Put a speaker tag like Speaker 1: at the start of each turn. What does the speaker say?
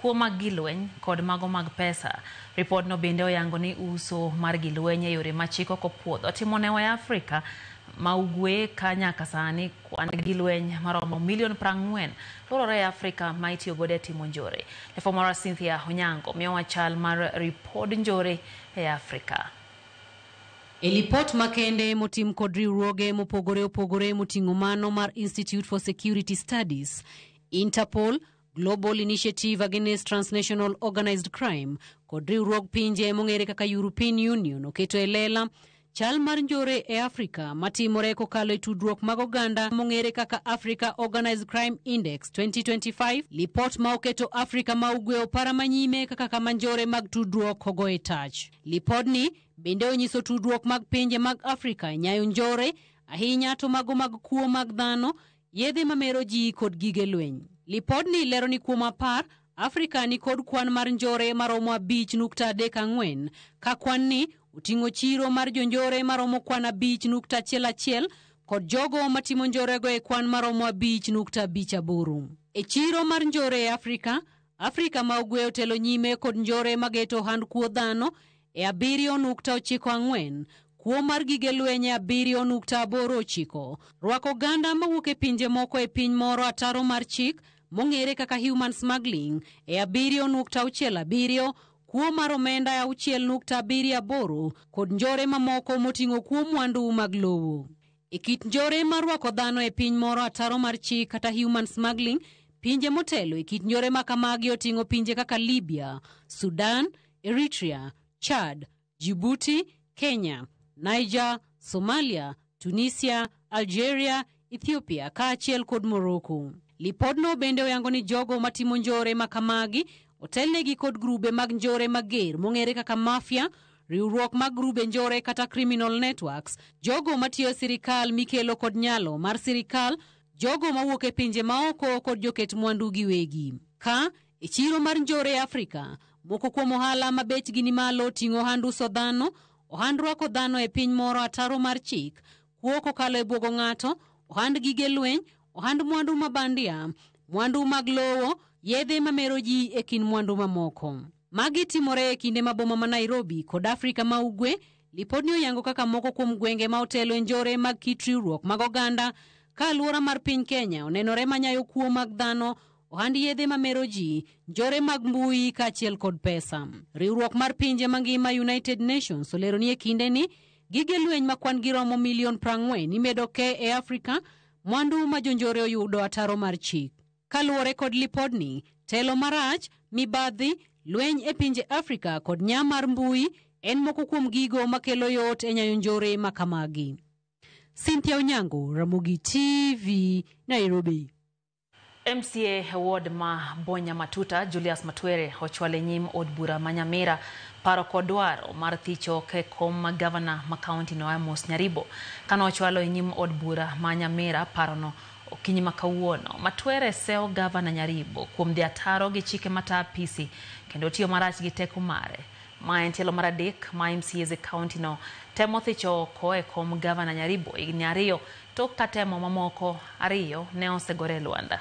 Speaker 1: kuo mag gi lweny kod mago mag pesa. Ripodno bende oyango ni uso mar gi lweny e yore ma chik ok opuodho timo ne wa e Afrika ma Ugwe ka nyaka sani kwan gi lweny maromo milion prang'wen lworore e Afrika ma itiyo godo e timo njore. Lefo marwa Cynthia Onyango miyowa chal mar ripod njore e Afrika.
Speaker 2: E lipot makende motim kod riwruoge mopogore opogore moting'o mano mar Institute for Security Studies, Interpol, Global Initiative Against Transnational Organized Crime kod riwruog pinje mong'ere kaka European Union oketo e lela chal mar njore e Afrika matimore kokalo e tudruok mag oganda mong'ere kaka Africa Organized Crime Index 2025, lipot ma oketo Afrika ma ugwe opara manyime kaka kama njore mag tudruok ogo e tach. Lipodni bende onyiso tudruok mag pinje mag Afrika e nyayo njore, ahinya to mago mag kuo mag dhano, Yedhe ma mero ji kod gige lweny. Lipodni lero ni kuom apar, Afrika ni kod kwan mar njore maromo abich nukta adek ang'wen, ka kwan ni oting'o chiro mar jonjore maromo kwan abich nukta achiel achiel kod jogo matimo njorego e kwan maromo abich nukta abich aboro. E chiro mar njore e Afrika, Afrika ma Ugwe otelo nyime kod njore mageto ohand kuo dhano e 7.94 kuo mar gige lweny e 7.89 rwako oganda mawuok e pinje moko e piny moro ataro mar chik mong'ere kaka human smuggling e 7.67 kuo mar omenda e 6.78 kod njore mamoko moting'o kuo mwandu mag lowo. E kit njore mar rwako dhano e piny moro ataro mar chik kata human smuggling, pinje motelo e kit njore ma kamagi oting'o pinje kaka Libya, Sudan, Eritrea, Chad, Djibouti, Kenya, Niger, Somalia, Tunisia, Algeria, Ethiopia kaachiel kod Morocco. Lipodno bende oyango ni jogo matimo njore ma kamagi otelnegi kod grube mag njore mager mong'ere kaka mafia riwruok mag grube njore kata criminal networks, jogo matiyo e sirikal mikelo kod nyalo mar sirikal, jogo mawuok e pinje maoko kod joket mwandu giwegi. Ka e chiro mar njore e Afrika, moko kuom ohala ma bechgi ni malo ting'o ohand uso dhano, ohand rwako dhano e piny moro ataro mar chik, kuo kokalo e bwogo ng'ato, ohand gige lweny, ohand mwandu ma bandia, mwandu mag lowo, yedhe mamero ji e kind mwandu mamoko. Magi timore e kinde ma boma ma Nairobi kod Afrika ma Ugwe lipodni oyango kaka moko kuom gwenge ma otelo e njore mag kit riwruok mag oganda ka alwora mar piny Kenya onenore ma nyayo kuo mag dhano ohand yedhe ma mero ji, njore mag mbui kaachiel kod pesa. Riwruok mar pinje mangima United Nations olero ni e kinde ni gige lweny ma kwan giromo milion prang'wen imedo ke e Afrika, mwandu ma jonjore oyudo ataro mar chik. Kaluwore kod lipodni, telo marach, mibadhi, lweny e pinje Afrika kod nya mar mbui en moko kuom gigo makelo yot e nyayo njore ma kamagi. Cynthia Onyango, Ramogi TV, Nairobi.
Speaker 1: MCA ward ma Bonya Matuta Julius Matwere ochwal e nyim od bura ma Nyamira paro kod dwaro mar thicho ke kom ma gavana ma kaunti no Amos Nyaribo. Kane ochwalo e nyim od bura ma Nyamira parono, Okinyi ma kawuono, Matwere sewo Gavana Nyaribo kuom dhi ataro gi chike mata apisi kendo tiyo marach gi teko mare. Ma en tielo mar adek ma MCAs e kaunti no temo thicho oko e kom Gavana Nyaribo higni ariyo tok ka temo mamoko ariyo ne osegore e lwanda.